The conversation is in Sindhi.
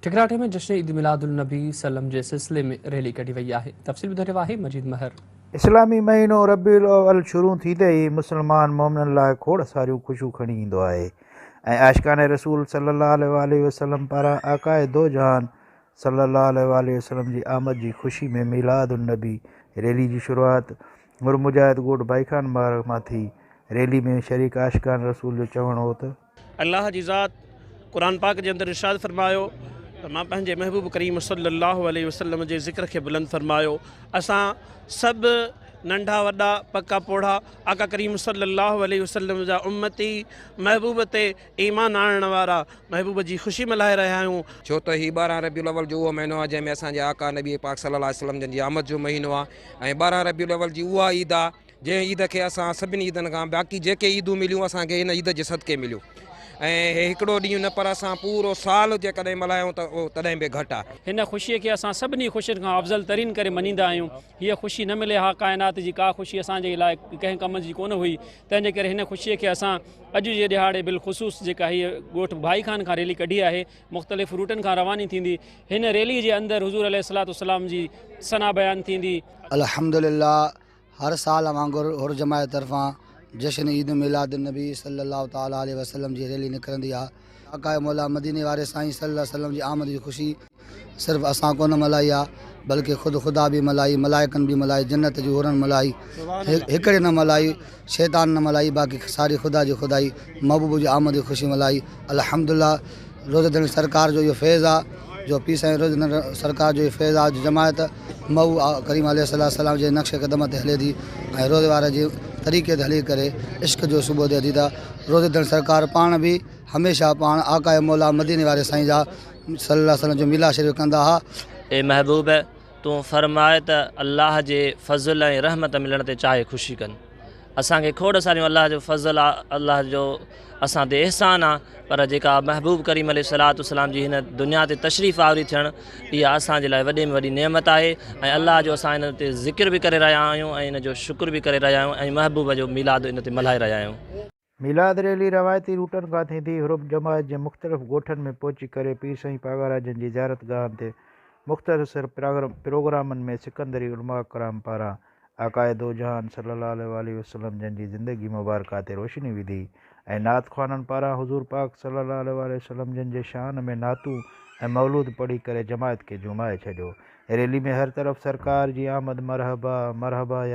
ٺڪراٺي ۾ جشن عيد ميلاد النبي صلعم جي سلسلي ۾ ريلي ڪڍي وئي آهي تفصيل ٻڌائي رهيو آهي مجيد مهر. اسلامي مهينو ربيع الاول شروع ٿيندي ئي مسلمان مؤمنن لاء کوڙ ساريون خوشيون کڻي ايندو آهي ۽ عاشقان رسول صلي الله عليه واٰله وسلم پاران آقاء دو جهان صلي الله عليه واٰله وسلم جي آمد جي خوشي ۾ ميلاد النبي ريلي جي شروعات مر مجاهد ڳوٺ ڀائي خان مبارڪ مان ٿي ريلي ۾ شريڪ عاشقان رسول جو چوڻ هو ته الله جي ذات قرآن پاڪ جي اندر ارشاد فرمايو ته مان پنهنجي محبوب ڪريم صلي الله عليه وسلم جي ذڪر کي بلند فرمايو اسان سڀ ننڍا وڏا پڪا پوڙها آقا ڪريم صلي الله عليه وسلم جا امتي محبوب تي ايمان آڻڻ وارا محبوب جي خوشي ملهائي رهيا آهيون. ڇو ته هي ٻارهن ربيع الاول جو اهو مهينو آهي جنهن ۾ اسان جي آقا نبي پاڪ صلي الله عليه وسلم جن جي آمد جو مهينو آهي ۽ ٻارهن ربيع الاول جي اها عيد آهي جنهن عيد کي اسان سڀني عيدن کان باقي جيڪي عيدون مليون اسان کي هن عيد جي صدقي مليو ۽ هي هڪڙو ڏينهن نه پر اسان پورو سال جيڪڏهن ملهايون ته اهو تڏهن به گهٽ آهي. هن خوشيء کي اسان سڀني خوشين کان افضل ترين ڪري مڃيندا آهيون. هيء خوشي نه ملي ها ڪائنات جي ڪا خوشي اسان جي لاء ڪنهن ڪم جي ڪونه هئي. تنهن جي ڪري هن خوشيء کي اسان اڄ جي ڏهاڙي بالخصوص جيڪا هيء ڳوٺ ڀائي خان کان ريلي ڪڍي آهي مختلف روٽن کان رواني ٿيندي هن ريلي جي اندر حضور عليه الصلوة والسلام جي ثنا بيان ٿيندي. الحمدلله هر سال وانگر حر جماعت طرفان جشن عيد ميلاد النبي صلي الله تعالي عليه وسلم جي ريلي نڪرندي آ. آقائي مولا مديني واري سائين صلي الله عليه وسلم جي آمد جي خوشي صرف اسان ڪونه ملهائي آ بلڪه خود خدا به ملهائي، ملائڪن به ملهائي، جنت جي حورن ملهائي، هڪڙي نه ملهائي، شيطان نه ملهائي باقي ساري خدا جي خدائي محبوب جي آمد جي خوشي ملهائي الحمدلله. روزدڙي سرڪار جو اهو فيض آ جو پير سائين روزدڙي سرڪار جو اهو فيض آ جو جماعت مئو آقا ڪريم عليه الصلوة والسلام جي نقش قدم تي هلي ٿي ۽ روزي واري جي طريقي تي هلي ڪري عشق جو سوڀو ڏي ٿي ته روزدڙي سرڪار پاڻ به هميشه پاڻ آقا مولا مديني واري سائين جا صلي الله عليه وسلم جو ميلاد شريف ڪندا ها. اي محبوب! تون فرماء ته الله جي فضل ۽ رحمت ملڻ تي چاهي خوشي ڪن. اسان کي کوڙ ساريون الله جو فضل آ الله جو اسان تي احسان آ پر جيڪا محبوب ڪريم عليه الصلوة والسلام جي هن دنيا تي تشريف آوري ٿيڻ اها اسان جي لاء وڏي ۾ وڏي نعمت آهي ۽ الله جو اسان هن تي ذڪر به ڪري رهيا آهيون ۽ ان جو شڪر به ڪري رهيا آهيون ۽ محبوب جو ميلاد ان تي ملهائي رهيا آهيون. ميلاد ريلي روايتي روٽن کان ٿيندي حرم جماعت جي مختلف ڳوٺن ۾ پهچي ڪري پير سائين پاڳاراجن جي زيارت گاهن تي مختصر پروگرامن ۾ سڪندري علماء ڪرام پاران آقاء دوجهان صلّي الله عليه واٰله وسلّم جن جي زندگي مبارڪه تي روشني وڌي ۽ نعت خوانن پاران حضور پاڪ صلّي الله عليه واٰله وسلّم جن جي شان ۾ نعتون ۽ مولود پڙهي ڪري جماعت کي جهومائي ڇڏيو. ريلي ۾ هر طرف سرڪار جي آمد مرحبا مرحبا يا.